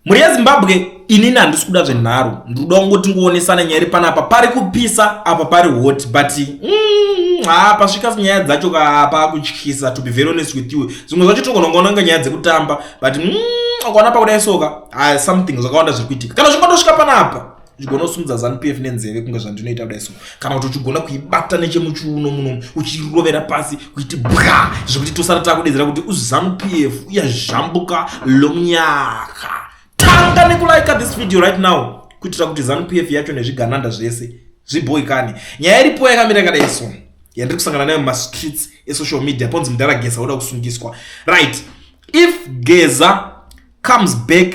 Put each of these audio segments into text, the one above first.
Mhuri yeZimbabwe inini handisi kuda zvenharo ndikuda kungoti ngoonesana nyaya iri panapa pari kupisa apa pari hot but mm, haa mm, pasvika nyaya dzacho kaapa kutyisa to be very honest with you zvimwe zvacho togona kungonanga nyaya dzekutamba but mm, ukaona pakuda isoka haa something zvakawanda zviri kuitika kana zvingatosvika panapa uchigona kusimudza zanupf nenzeve kunge zvandinoita kudai so kana kuti uchigona kuibata nechemuchiuno muno uchirovera pasi kuiti bwa zvekuti tosara takudedzera kuti uzanupf uyazhambuka lomnyaka tanga nekulaika this video right now kuitira kuti zanupf yacho nezvigananda zvese zviboikane nyaya iripo yakamira kadai so yandiri kusangana nayo mumastreets esocial media ponzi mudhara gesa oda kusungiswa right if geza comes back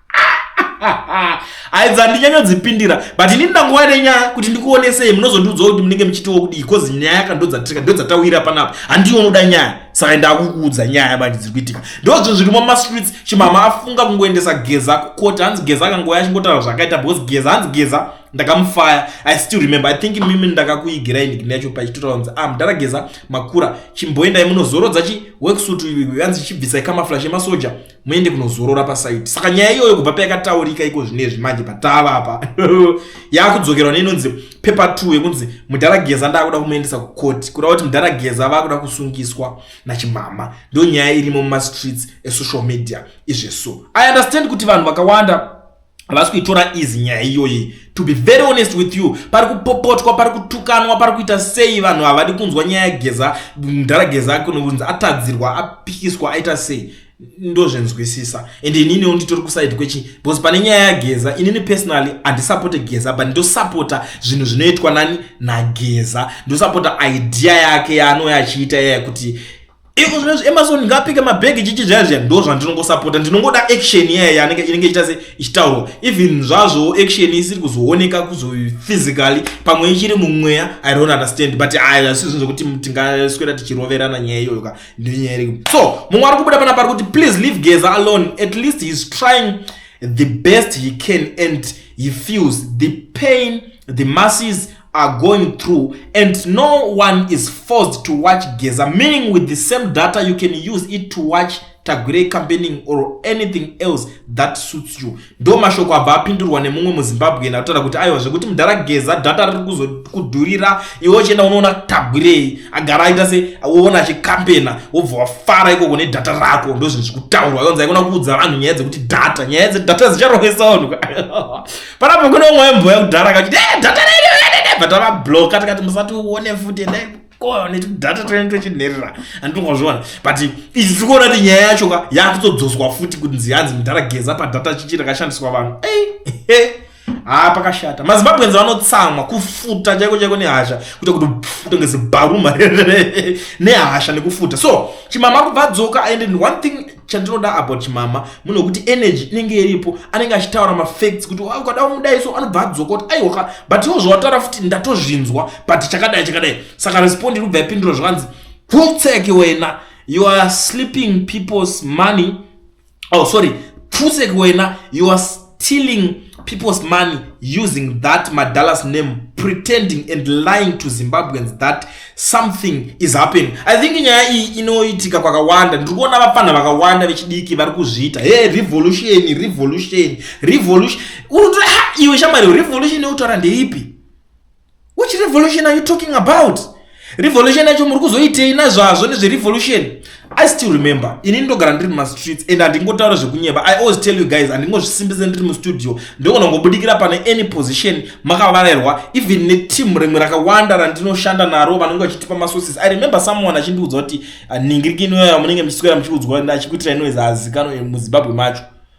aidza ndinyanyodzipindira but ini ndanguva nenyaya kuti ndikuonesei munozondiudzawo kuti munenge muchitiwo kudii bcause nyaya yaka ndodzatirika ndodzaitawira panapa handiwo unoda nyaya saka ndakukuudza nyaya manje dziri kuitika ndo zvinhu zviri mumastreets chimama afunga kungoendesa geza kukoti hanzi geza akangoya achingotaura zvakaita because geza hanzi geza ndakamufaya i still remember i think mimi ndakakuigirai ndigini yacho pachitotaura kunzi ah mudhara geza makura chimboendai munozorodza chiworksuit hanzi chibvisai kamaflash emasoja muende kunozorora pasaiti saka nyaya iyoyo kubva payakataurika iko zvinezvi manje patava apa yakudzokerwa neinonzi pepa t yekunzi mudhara geza ndaakuda kumuendesa kukoti kuda kuti mudhara geza vakuda kusungiswa nachimama ndo nyaya irimo mumastreets esocial media izveso i understand kuti vanhu vakawanda havasi kuitora izi nyaya iyoyi to be very honest with you pari kupopotwa pari kutukanwa pari kuita sei vanhu havadi kunzwa nyaya yageza mdhara geza ake unonzi atadzirwa apikiswa aita sei ndozvenzwisisa and ininiwo nditori kusaidi kwechi because pane nyaya yageza inini personally handisapote geza but ndosapota zvinhu zvinoitwa nani nageza ndosapota idea yake yaanouya achiita yaya kuti iko zvinezvi amazon ngapike mabhegi chichi zvaya zviya ndo zvandinongosapota ndinongoda action yaya yanenge inenge ichiita se ichitaurwa even zvazvo action isiri kuzooneka kuzophysically pamwe ichiri mumweya i don't understand but aya hazvisi zvinhu zvekuti tingaswera tichiroverana nyaya iyoyo ka ndinyaya iriku so mumwe ari kubuda pana pari kuti please leave geza alone at least heis trying the best he can and he feels the pain the masses are going through and no one is forced to watch geza meaning with the same data you can use it to watch tagwirei campaigning or anything else that suits you ndo mashoko abva apindurwa nemumwe muzimbabwean akutaura kuti aiwa zvekuti mudhara geza data riri kuzokudhurira iwe uchienda unoona tagwirei agara aita se woona achikampena wobva wafara ikoko nedhata rako ndozvinhu zviri kutaurwa yonzi aikona kuudza vanhu nyaya dzekuti data nyaya dzedhata dzicharovesa vanhu panapo kune umwe wemboya kudhara akachiti e eh, data redu rededebva tavabloka tikati musati uone futi endai ko netudata tene tochinherera andingozviona but izvi tiri kuona kuti nyaya yacho ka yakutodzoswa futi kuti nziyanzi mudhara geza padata chichi rakashandiswa vanhu ei haa pakashata mazimbabwenzi vanotsamwa kufuta chaiko chaiko nehasha kuita kuti pfuta ngezibharuma nehasha nekufuta so chimama kubva dzoka and one thing chandinoda about chimama munhu wekuti energy inenge iripo anenge achitaura mafacts kuti ah, ukada umudai so anobva adzokoti aiwaka but iwo zvawataura futi ndatozvinzwa but chakadai chakadai saka respond irikubva yapindura zvakanzi pfutseki wena you are sleeping people's money oh sorry pfutseki wena you are stealing people's money using that madallas name pretending and lying to zimbabweans that something is happening i think nyaya iyi inoitika kwakawanda ndiri kuona vapfanha vakawanda vechidiki vari kuzviita he revolution revolution revolution unoto iwe shamari revolution yekutaura ndeipi which revolution are you talking about revolution yacho muri kuzoitei nazvazvo nezverevolution i still remember ini ndogara ndiri mumastreets and handingotaura zvekunyeba i always tell you guys handingozvisimbise ndiri mustudio ndogona kungobudikira pane any position makavarairwa even neteam rimwe rakawanda randinoshanda naro vanenge vachitipa masources i remember someone achindiudza kuti ah, ningiriki inoyaya munenge muchiswera muchiudzwa achikuitira inoyeza azikanwe muzimbabwe macho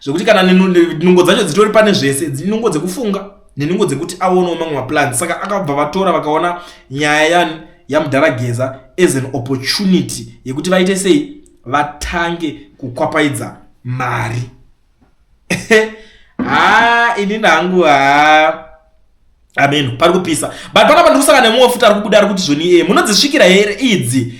zvekuti kana nungo dzacho dzitori pane zvese dzinungo dzekufunga nenungo dzekuti aonawo mamwe maplan saka akabva vatora vakaona nyaya yan yamudhara geza as an opportunity yekuti vaite sei vatange kukwapaidza mari haa inini hangu haa ameno pari kupisa but panapa ndikusaka nemumwe futi ari kubuda ari kuti zvoni iye munodzisvikira here idzi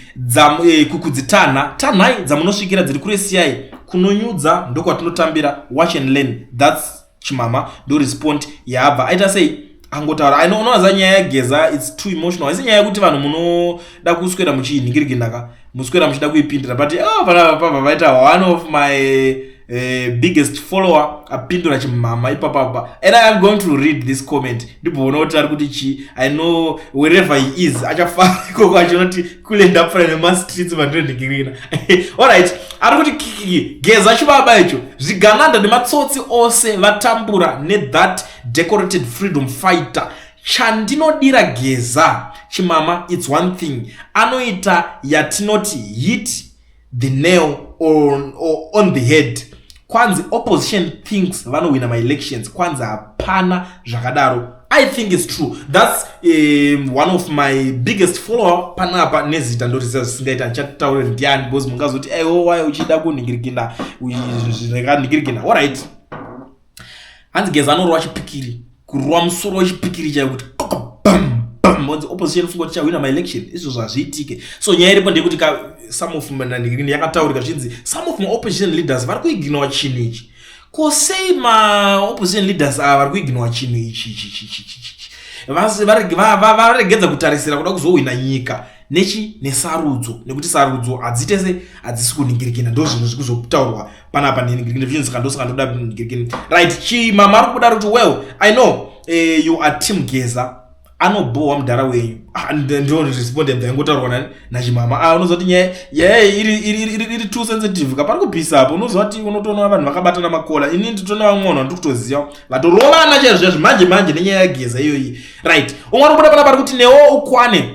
e, kudzitanha tanhai dzamunosvikira dziri kure siyai kunonyudza ndokwatinotambira watch and learn thats chimama ndorespond yaabva aita sei angotaura inoona za nyaya yageza its too emotional haisi nyaya yekuti vanhu munoda kuswera muchiinhingiriginaka muswera muchida kuipindira but oh, vanapapa vaita one of my uh, biggest follower apindura chimhama ipapapa and i am going to read this comment ndibhoona kuti ari kuti chii i know wherever he is achafara ikoko achinoti kule ndapfura nemastreets mandinonhingirina allright ari kuti kikiki geza chibaba icho zvigananda nematsotsi ose vatambura nethat decorated freedom fighter Chandinodira Geza chimama it's one thing anoita yatinoti hit the nail on, on the head kwanzi opposition thinks vanowina maelections kwanzi hapana zvakadaro i think is true thats um, one of my biggest follower panapa nezita ndotiziva zvisingaita ndichataura ndiani because mungazoti aiwowaye uchida kunhingirikina zvinekanhingirikina allright hanzi geza anorova chipikiri kurova musoro wechipikiri chaiyo kuti onzi opposition funga kuti chahwina maelection izvo zvazviitike so nyaya iripo ndeyekuti ka some of manandirini yakataurika zvichinzi some of maopposition leaders vari kuiginowa chinhu ichi ko sei maopposition leaders ava vari kuiginowa chinhu ichi chichichichichi varegedza kutarisira kuda kuzohwina nyika nechi nesarudzo nekuti sarudzo hadzitese hadzisi kuningirikina ndo zvinhu zviri kuzotaurwa panapa ndindivision saka ndosaka ndoda mm, right chi mama ari kudaro kuti well i know eh, you are team geza anobhowa mudhara wenyu ah, ndoresponded ndaingotaurwa nani nachimama ah, unoziva kuti nyaya nyaya iri too sensitive kapari kupisa apo unoziva kuti unotoona vanhu vakabatana makola ini nditoona vamwe vanhu vandiri kutoziva vatorovana chaizvo chaizvo manje manje nenyaya yageza iyoyi right umwe anobuda pana pari kuti newo ukwane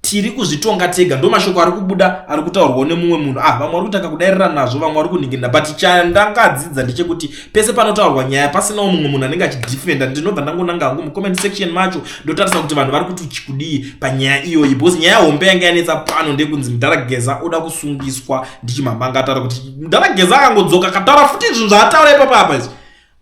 tiri kuzvitonga tega ndo mashoko ari kubuda ari kutaurwawo nemumwe munhu ah vamwe vari kutanga kudairira nazvo vamwe vari kuningirira but chandangadzidza ndechekuti pese panotaurwa nyaya pasinawo mumwe munhu anenge achidefenda ndinobva ndangonanga hangu mucomment section macho ndotarisa kuti vanhu vari kuti chikudii panyaya iyoyi because nyaya hombe yanga yanetsa pano ndekunzi mudhara geza oda kusungiswa ndichimamanga ataura kuti mudhara geza akangodzoka akataura futi izvinhu zvaataura ipapa apa izvi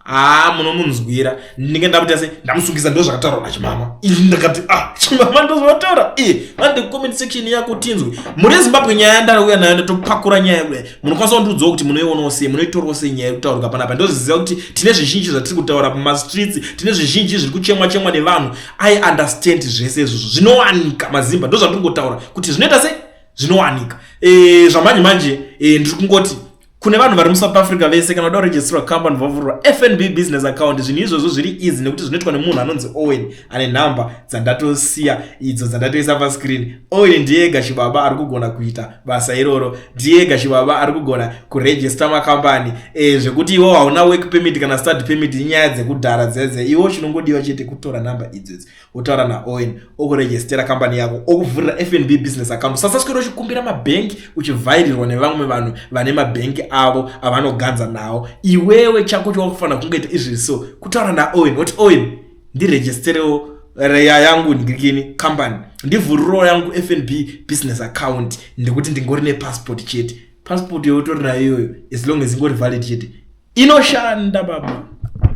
haa munomunzwira ndinenge ndamuita se ndamusungisa ndo zvakataurwa nachimama ii ndakati ah chimama ndozvataura ii vande comment section yako tinzwe muri ezimbabwe nyaya yandauya nayo ndatopakura nyaya yekuda munokwanisa kundiudzawo kuti munoionawo sei munoitorwa sei nyaya yekutaurika panapa ndozviziva kuti tine zvizhinji zvatiri kutaura pamastreets tine zvizhinji zviri kuchemwa chemwa nevanhu i understand zvese izvozvo zvinowanika mazimba ndozvandiri kungotaura kuti zvinoita se zvinowanika e, zvamanje manje e, ndiri kungoti kune vanhu vari musouth africa vese kana uda kuregistrwa company vavhurwa fnb business account zvinhu izvozvo zviri easy nekuti zvinoitwa nemunhu anonzi owen ane nhamba dzandatosiya idzo dzandatoisa pascreen owen ndiye ega chibaba ari kugona kuita basa iroro ndiye ega chibaba ari kugona kuregister makambani e, eh, zvekuti iwo hauna work permit kana start permit inyaya dzekudhara dzedze iwo chinongodiwa chete kutora nhamba idzodzo wotaura naowen okurejestera kambani yako okuvhurira fnb business account sasaswera uchikumbira mabhengi uchivhairirwa nevamwe vanhu vane mabhengi avo avanoganza nawo iwewe chako chowakufanira kungoita izvi so kutaura naowen woti owen ndirejesterewo reya yangu ndikini kambani ndivhurirawo yangu fnb business account ndekuti ndingori nepassport chete passport youtori nayo iyoyo as long as ingori valid chete inoshanda baba